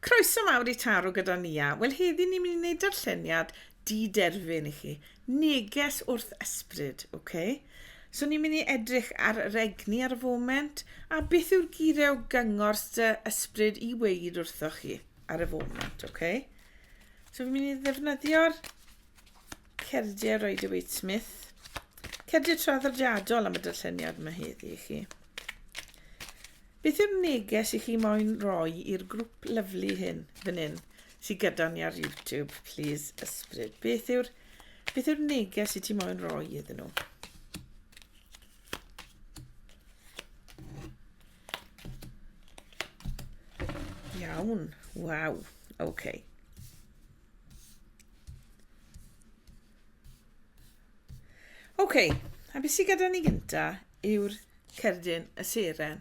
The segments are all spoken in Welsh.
Croeso mawr i Taro gyda Nia. Wel heddi ni'n mynd i wneud darlleniad di-derfyn i chi. Neges wrth ysbryd, ok? So ni'n mynd i edrych ar yr egni ar y foment a beth yw'r geiriau o gyngor sy ysbryd i weid wrthoch chi ar y foment, ok? So fi'n mynd i ddefnyddio'r cerdiau Rider Waite Smith. Cerdiau traddodiadol am y darlleniad mae heddi i chi. Beth yw'r neges i chi moyn roi i'r grwp lyfli hyn fan hyn sydd gyda ni ar YouTube, plîs ysbryd? Beth yw'r beth yw'r neges i ti moyn roi iddyn nhw? Iawn, waw, oce. Okay. OK, a beth sydd gyda ni gynta yw'r cerdyn y seren.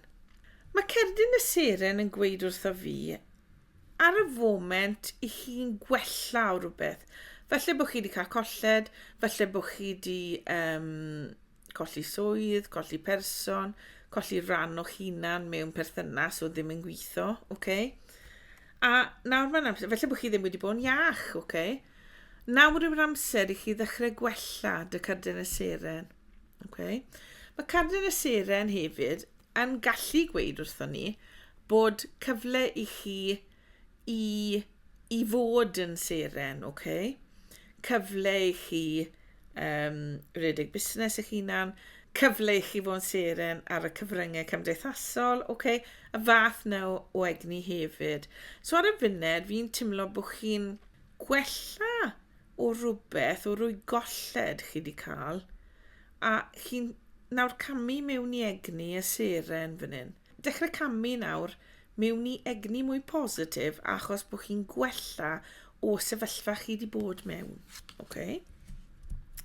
Mae cerdyn y seren yn gweud wrtho fi ar y foment i chi'n gwella o rhywbeth. Felly bod chi wedi cael colled, felly bod chi wedi um, colli swydd, colli person, colli rhan o'ch hunan mewn perthynas o ddim yn gweithio, oce? Okay? A nawr mae'n amser, felly bod chi ddim wedi bod yn iach, oce? Okay? Nawr yw'r amser i chi ddechrau gwella dy cardyn y seren. Okay. Mae cardyn y seren hefyd yn gallu gweud wrthon ni bod cyfle i chi i, i fod yn seren, okay? cyfle i chi um, redeg busnes eich hunan, cyfle i chi fod yn seren ar y cyfryngau cymdeithasol, okay? y fath na o egni hefyd. So ar y funud, fi'n timlo bod chi'n gwella o rywbeth, o rwy golled chi di cael, a chi'n nawr camu mewn i egni y seren fan hyn. Dechrau camu nawr mewn i egni mwy positif achos bod chi'n gwella o sefyllfa chi di bod mewn. Oce?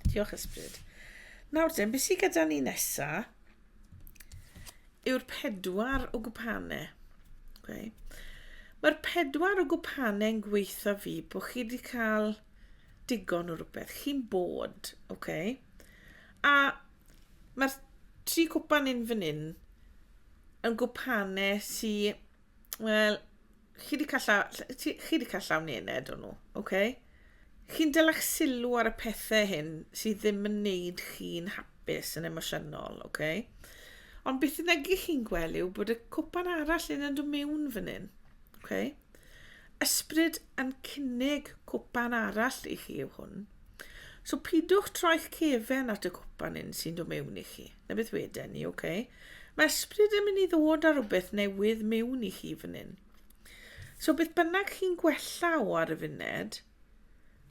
Diolch ysbryd. Nawr dyn, beth sydd gyda ni nesa? yw'r pedwar o gwpane. Okay. Mae'r pedwar o gwpane yn gweithio fi bod chi wedi cael digon o rhywbeth. Chi'n bod, okay. A mae'r tri cwpan yn fan hyn yn gwpane sy'n Wel, chi wedi cael llaw, chi wedi cael llaw nened o'n nhw, oce? Okay? Chi'n dylech sylw ar y pethau hyn sydd ddim yn neud chi'n hapus yn emosiynol, oce? Okay? Ond beth yna gych chi'n gweld yw bod y cwpan arall yn dod mewn fan hyn, oce? Okay? Ysbryd yn cynnig cwpan arall i chi yw hwn. So pidwch troi'ch cefen at y cwpan hyn sy'n dod mewn i chi. Na beth weden ni, oce. Okay. Mae ysbryd yn mynd i ddod ar rhywbeth newydd mewn i chi fan hyn. So beth bynnag chi'n gwella o ar y funed,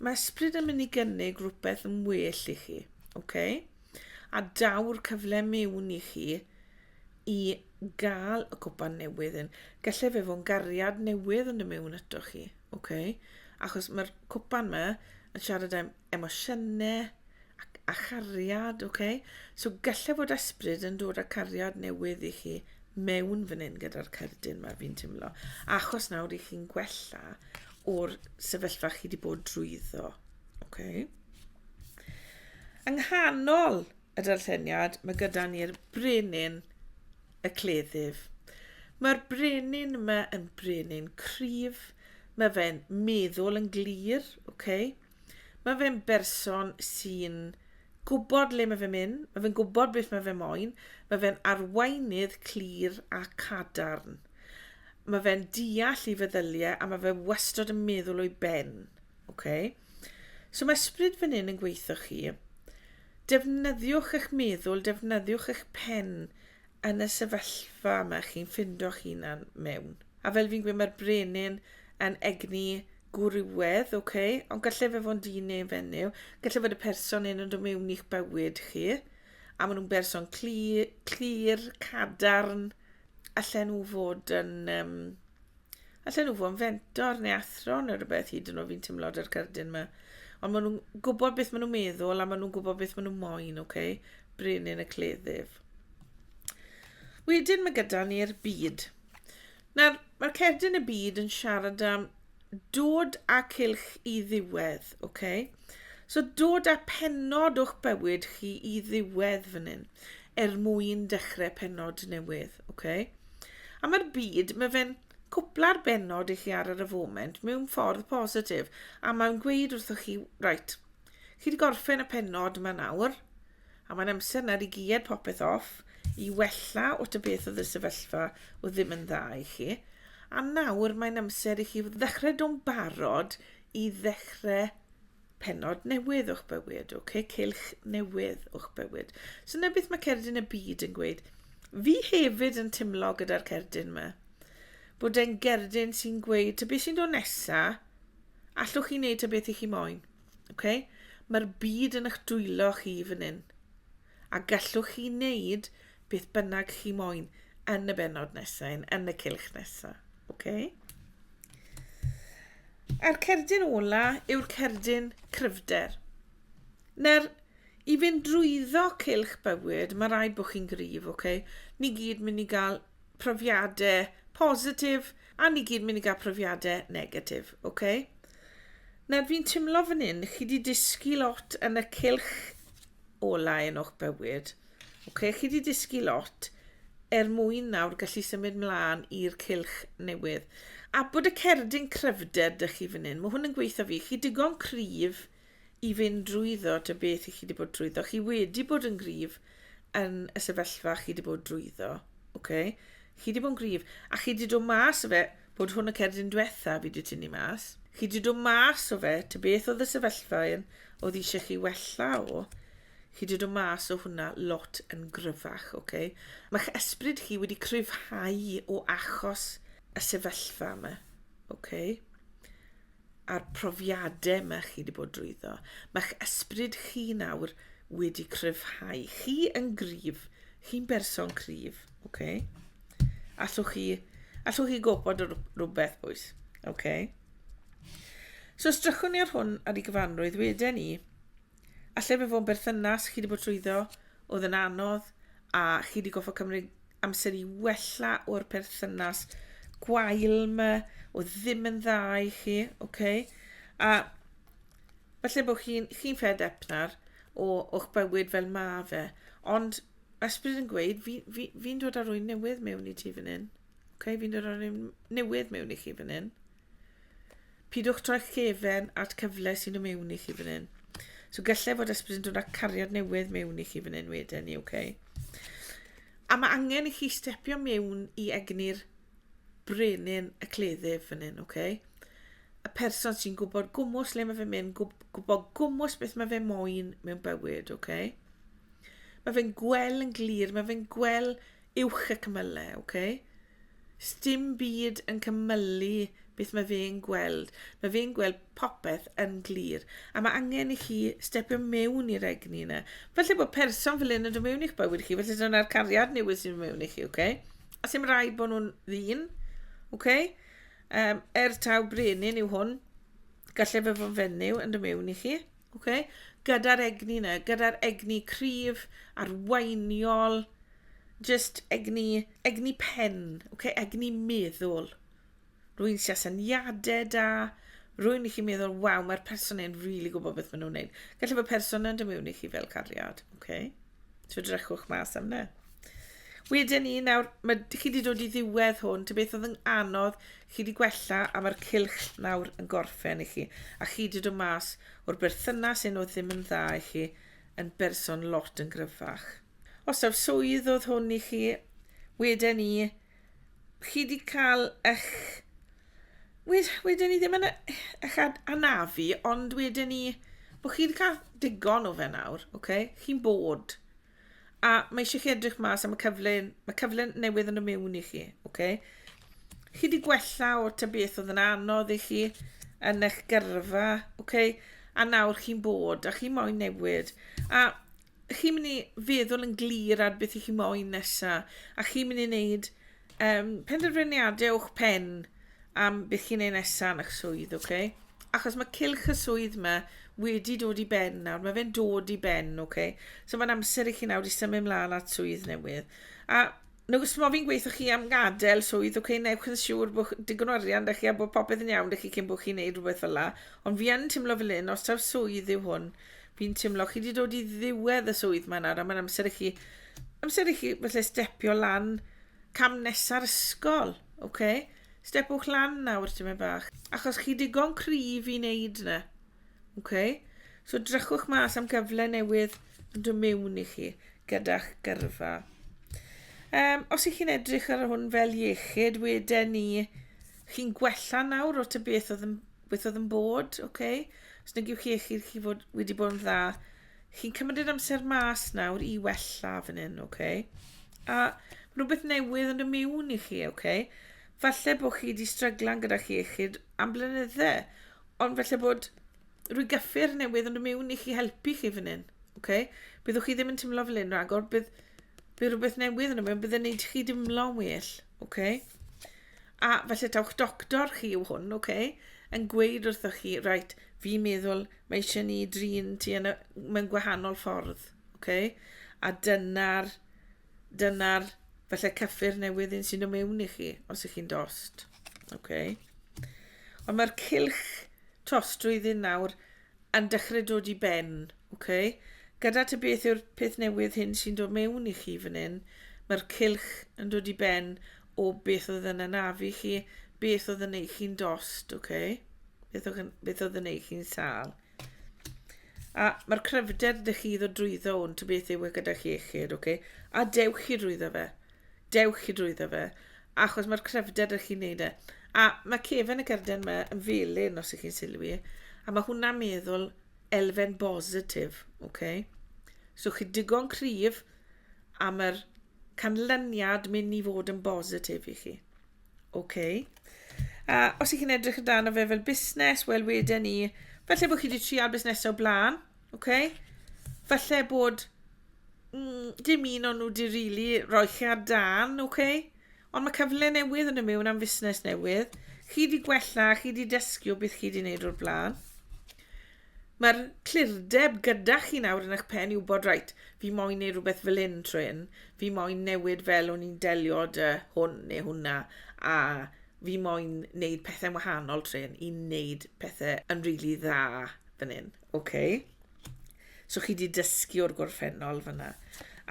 mae ysbryd yn mynd i gynnig rhywbeth yn well i chi, oce. Okay? A daw'r cyfle mewn i chi i gael y cwpan newydd yn. Gallai fe fo'n gariad newydd yn y mewn ato chi, oce. Okay? Achos mae'r cwpan yma yn siarad am emosiynau a chariad, ok? So gallai fod ysbryd yn dod â cariad newydd i chi mewn fan hyn gyda'r cerdyn mae fi'n teimlo. Achos nawr i chi'n gwella o'r sefyllfa chi wedi bod drwyddo. Okay. Yng nghanol y darlleniad, mae gyda ni'r brenin y cleddyf. Mae'r brenin yma yn brenin cryf. Mae fe'n meddwl yn glir, okay? Mae fe'n berson sy'n gwybod le mae fe'n mynd, mae fe'n gwybod beth mae fe moyn, mae fe'n arweinydd clir a cadarn. Mae fe'n deall i feddyliau a mae fe wastod yn meddwl o'i ben. Okay? So mae ysbryd fan hyn yn gweithio chi. Defnyddiwch eich meddwl, defnyddiwch eich pen yn y sefyllfa yma chi'n ffindo'ch hunan mewn. A fel fi'n gweud, mae'r brenin yn egni gwrywedd, ok, ond gallai fe fod yn dyn neu fenyw, gallai fod y person hyn yn dod mewn i'ch bywyd chi, a maen nhw'n berson clir, clir cadarn, allan nhw fod yn, um, allan nhw fod yn fentor neu athro neu rhywbeth hyd yn oed fi'n teimlo ar cardyn yma. Ond maen nhw'n gwybod beth maen nhw'n meddwl a maen nhw'n gwybod beth maen nhw'n moyn, oce? Okay? Brenin y cleddyf. Wedyn mae gyda ni'r byd. Nawr, mae'r cerdyn y byd yn siarad am dod â cylch i ddiwedd, oce? Okay? So dod â pennod o'ch bywyd chi i ddiwedd fan hyn, er mwyn dechrau pennod newydd, oce? Okay? A mae'r byd, mae fe'n cwpla'r bennod i chi ar yr y foment mewn ffordd positif, a mae'n gweud wrthoch chi, right, Chi wedi gorffen y pennod yma nawr, a mae'n amser nawr i gied popeth off, i wella o y beth oedd y sefyllfa o ddim yn dda i chi, a nawr mae'n amser i chi ddechrau do'n barod i ddechrau pennod newydd o'ch bywyd, oce, okay? cilch newydd o'ch bywyd. So na beth mae cerdyn y byd yn gweud. Fi hefyd yn timlo gyda'r cerdyn yma. Bod e'n gerdyn sy'n gweud, ta beth sy'n dod nesa, allwch chi wneud ta beth i chi moyn. Ok? Mae'r byd yn eich dwylo chi fan hyn. A gallwch chi wneud beth bynnag chi moyn yn y benod nesau, yn y cylch nesau. Ok? A'r cerdyn ola yw'r cerdyn cryfder. Na'r i fynd drwyddo cylch bywyd, mae rai bod chi'n gryf, ok? Ni gyd mynd i gael profiadau positif a ni gyd mynd i gael profiadau negatif, oce? Okay? Nawr fi'n timlo fan hyn, chi wedi dysgu lot yn y cilch olau yn o'ch bywyd. Oce, okay? chi wedi dysgu lot er mwyn nawr gallu symud mlaen i'r cilch newydd. A bod y cerdyn cryfder dych chi fan hyn, mae hwn yn gweithio fi, chi digon cryf i fynd drwyddo ta beth i chi wedi bod drwyddo. Chi wedi bod yn gryf yn y sefyllfa chi wedi bod drwyddo. Okay? Chi wedi bod yn gryf. A chi wedi dod mas o fe, bod hwn y cerdyn diwetha fi wedi tynnu mas. Chi wedi dod mas o fe, ta beth oedd y sefyllfa un oedd eisiau chi wella o. Chi wedi dod mas o hwnna lot yn gryfach, oce? Okay? Mae'ch esbryd chi wedi cryfhau o achos y sefyllfa yma, oce? Okay? a'r profiadau mae chi wedi bod drwyddo. Mae'ch ysbryd chi nawr wedi cryfhau. Chi yn gryf. Chi'n berson cryf. Okay? Allwch chi, allwch chi gobod rhywbeth, bwys. Okay? So, strychwn ni ar hwn ar ei gyfanrwydd wedyn ni. A lle mae fo'n berthynas chi wedi bod trwyddo oedd yn anodd a chi wedi goffa cymryd amser i wella o'r perthynas gwael yma oedd ddim yn dda i chi, oce? Okay? A falle bod chi'n chi, chi fed up nawr o, o'ch bywyd fel ma fe, ond ysbryd yn gweud, fi'n fi, fi, fi dod ar rwy'n newydd mewn i ti fan hyn. Okay? Fi'n dod ar rwy'n newydd mewn i chi fan hyn. Pidwch troi'ch gefen at cyfle sy'n y mewn i chi fan hyn. So gallai fod ysbryd yn dod â cariad newydd mewn i chi fan hyn wedyn i, oce? A mae angen i chi stepio mewn i egni'r brenin y cleddyf fan hyn, oce? Y person sy'n gwybod gwmwys le mae fe'n mynd, gwybod gwmwys beth mae fe moyn mewn bywyd, oce? Mae fe'n gweld yn glir, mae fe'n gweld Uwch y cymylau, ok? Sdim byd yn cymylu beth mae fe'n gweld. Mae fe'n gweld popeth yn glir. A mae angen i chi stepio mewn i'r egni yna. Felly bod person fel un yn dod mewn i'ch bywyd chi, felly dyna'r cariad newydd sy'n mewn i chi, okay? A sy'n rhaid bod nhw'n ddyn, okay? Um, er taw brenin yw hwn, gallai fe fod fenyw yn dod mewn i chi. Okay? Gyda'r egni yna, gyda'r egni cryf, arweiniol, just egni, egni pen, okay? egni meddwl. Rwy'n sy'n syniadau da, rwy'n i chi meddwl, waw, mae'r person yn rili really gwybod beth maen nhw'n gwneud. Gallai bod person yn dymuno i chi fel cariad, okay? So drychwch mas am na. Wedyn ni, nawr, mae, chi wedi dod i ddiwedd hwn, ty beth oedd yn anodd, chi wedi gwella a mae'r cilch nawr yn gorffen i chi. A chi wedi dod mas o'r berthynas un oedd ddim yn dda i chi yn berson lot yn gryfach. Os awr swydd oedd hwn i chi, wedyn ni, chi wedi cael eich... Wed, wedyn ni ddim yn eich anafu, ond wedyn ni... Bod chi wedi cael digon o fe nawr, oce? Okay? Chi'n bod. A mae eisiau chi edrych mas am y cyfle, mae cyfle newydd yn y mewn i chi, oce? Okay? Chi wedi gwella o ta beth oedd yn anodd i chi yn eich gyrfa, oce? Okay? A nawr chi'n bod, a chi moyn newid. A chi'n mynd i feddwl yn glir ar beth i chi moyn nesa, a chi'n mynd i wneud um, penderfyniadau o'ch pen am beth chi'n ei nesa yn eich swydd, oce? Okay? Achos mae cilch y swydd yma wedi dod i ben nawr, mae fe'n dod i ben, oce? Okay? So mae'n amser i chi nawr i symud mlaen at swydd newydd. A nag os fi'n gweithio chi am gadael swydd, oce, okay, newch yn siŵr bod digon o arian da chi a bod popeth yn iawn da chi cyn bod chi'n neud rhywbeth fel la. Ond fi yn teimlo fel un, os taw swydd yw hwn, Fi'n teimlo, chi wedi dod i ddiwedd y swydd mae'n ar, a mae'n amser i chi, amser i chi felly stepio lan cam nesa'r ysgol, oce? Okay? Stepwch lan nawr, ti'n mynd bach, achos chi digon cryf i wneud yna, oce? Okay? So drychwch mas am gyfle newydd yn dod mewn i chi gyda'ch gyrfa. Um, os ych chi'n edrych ar hwn fel iechyd, wedyn ni, chi'n gwella nawr o ty beth oedd yn Beth oedd yn bod, oce? Okay? Os nag yw chi eich chi fod wedi bod yn dda, chi'n cymryd yr amser mas nawr i wella fan hyn, oce? Okay? A rhywbeth newydd yn y miwn i chi, oce? Okay? Falle bod chi wedi stryglan gyda chi eich am blynydde, ond falle bod rwy gyffur newydd yn y miwn i chi helpu chi fan hyn, oce? Okay? Byddwch chi ddim yn teimlo fel un rhagor, bydd, bydd rhywbeth newydd yn y miwn, bydd yn neud chi dimlo'n well, oce? Okay? A falle taw'ch doctor chi yw hwn, ok, yn gweud wrthoch chi, right, fi'n meddwl mae eisiau ni drin ti yn y, mewn gwahanol ffordd, ok? A dyna'r, dyna'r, falle cyffur newydd un sy'n ymewn i chi, os ych chi'n dost, ok? Ond mae'r cilch tostrwydd un nawr Yn dechrau dod i ben, ok? Gyda ti beth yw'r peth newydd hyn sy'n dod mewn i chi fan hyn? Mae'r cylch yn dod i ben o beth oedd yn anafu chi, beth oedd yn ei chi'n dost, ok? Beth oedd, beth oedd yn ei chi'n sal. A mae'r cryfder dych chi ddod drwyddo hwn, ta beth yw e gyda chi echyd, ok? A dewch chi drwyddo fe. Dewch i drwyddo fe, achos mae'r cryfder ych chi'n neud e. A mae cefen y gerden yma yn felyn, os ych chi'n sylwi, a mae hwnna'n meddwl elfen bositif, oce? Okay? So chi digon cryf a mae'r canlyniad mynd i fod yn bositif i chi. Oce? Okay? A os ych chi'n edrych amdano fe fel busnes, wel wedyn ni, felly bod chi wedi trial busnesau o blaen, Ok? Falle bod mm, dim un o'n nhw di rili really roi chi ar dan, ok? Ond mae cyfle newydd yn y mewn am fusnes newydd. Chi di gwella, chi di dysgu o beth chi di wneud o'r blaen. Mae'r clirdeb gyda chi nawr yn eich pen i wybod, rhaid, fi moyn neud rhywbeth fel un trwy hyn, fi moyn newid fel o'n i'n delio dy hwn neu hwnna, a fi moyn neud pethau'n wahanol trwy hyn i neud pethau yn rili really dda fan hyn. Ok. So chi wedi dysgu o'r gorffennol fyna.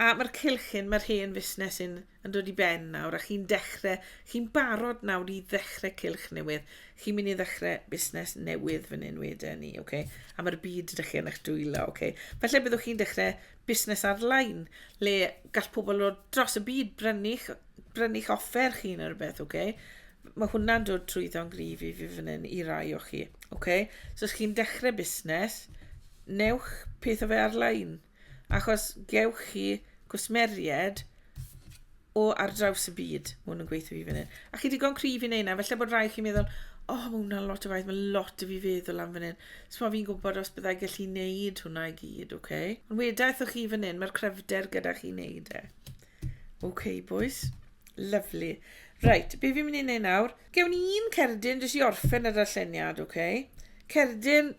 A mae'r cylchyn, mae'r hen fusnes yn, yn dod i ben nawr, a chi'n dechrau, chi'n barod nawr i ddechrau cylch newydd. Chi'n mynd i ddechrau busnes newydd fan hyn wedyn ni, okay? a mae'r byd ydych chi yn eich dwylo. Okay? Felly byddwch chi'n dechrau busnes ar-lein le gall pobl o dros y byd brynu'ch brynu'ch offer chi neu rhywbeth, oce? Mae hwnna'n dod trwyddo'n gryf i fi fan hyn i rai o chi, oce? So os chi'n dechrau busnes, newch peth o fe ar-lein, achos gewch chi gwsmeriaid o ar draws y byd. Mae hwn yn gweithio fi fan hyn. A chi digon cryf i wneud na. Felly bod rhai chi'n meddwl, o, oh, mae hwnna'n lot o waith, mae lot o fi feddwl am fan hyn. So mae fi'n gwybod os byddai gallu wneud hwnna i gyd, oce? Okay? Ond wedaeth o chi fan hyn, mae'r cryfder gyda chi wneud e. Oce, okay, boys. Lovely. Right, be fi'n mynd i wneud nawr? Gewn ni un cerdyn jyst i orffen y darlleniad, oce? Okay? Cerdyn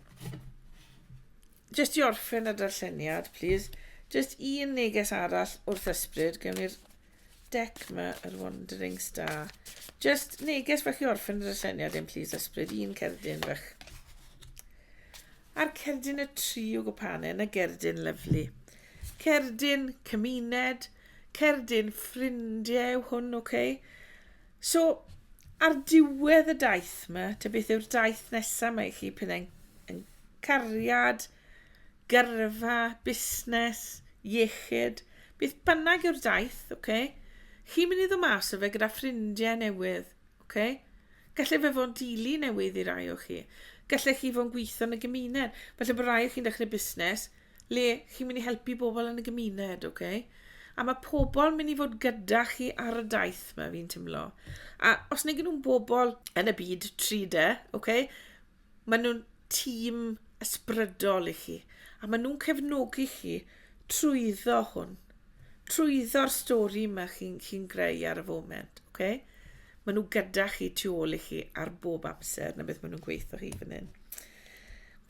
Jyst i orffen y darlleniad, plîs, jyst un neges arall wrth ysbryd, gewn ni'r dec yma, yr Wandering Star. Jyst neges fach i orffen y darlleniad yn plîs ysbryd, un cerdyn fach. A'r cerdyn y tri o gwpane, yna gerdyn lyflu. Cerdyn cymuned, cerdyn ffrindiau yw hwn, oce? Okay? So, ar diwedd y daith yma, ta beth yw'r daith nesaf mae chi, pethau yn, yn cariad, gyrfa, busnes, iechyd, beth bynnag yw'r daith, oce? Okay? Chi'n mynd i ddod mas o fe gyda ffrindiau newydd, oce? Okay? Gallai fe fod yn dili newydd i rai o chi. Gallai chi fod yn gweithio yn y gymuned. Felly bod rai o chi'n dechrau busnes, le chi'n mynd i helpu bobl yn y gymuned, oce? Okay? A mae pobl mynd i fod gyda chi ar y daith mae fi'n teimlo. A os neu nhw'n bobl yn y byd 3D, oce? Okay? Mae nhw'n tîm ysbrydol i chi. A mae nhw'n cefnogi chi trwyddo hwn. Trwyddo'r stori yma chi'n chi, chi greu ar y foment, oce? Okay? Mae nhw gyda chi tu ôl i chi ar bob amser na beth mae nhw'n gweithio chi fan hyn.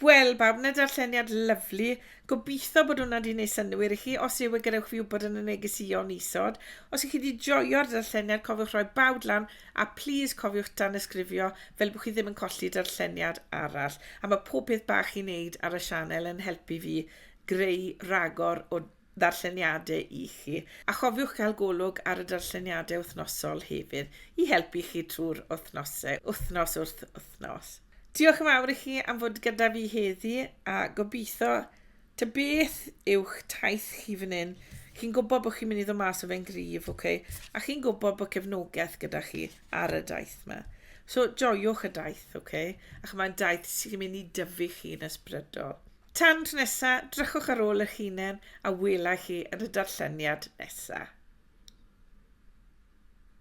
Wel bawb, na darlleniad lyfli. Gobeithio bod hwnna wedi gwneud synnwyr i chi. Os yw e, gadewch fi wybod yn y negeseuon isod. Os ych chi wedi joio'r darlleniad, cofiwch roi bawd lan a plis cofiwch danysgrifio fel bod chi ddim yn colli darlleniad arall. A mae pob peth bach chi'n neud ar y sianel yn helpu fi greu rhagor o ddarlleniadau i chi, a chofiwch gael golwg ar y darlleniadau wythnosol hefyd i helpu chi trwy'r wythnosau, wythnos wrth wythnos. Diolch yn fawr i chi am fod gyda fi heddi a gobeithio ta beth yw'ch taith chi fan hyn. Chi'n gwybod bod chi'n mynd i ddod mas o fe'n gryf, okay? a chi'n gwybod bod cefnogaeth gyda chi ar y daith yma. So, joiwch y daith, okay? a chyma'n daith sy'n mynd i dyfu chi'n ysbrydol. Tan tro nesa, drychwch ar ôl eich hunain a welai chi yn y darlleniad nesa.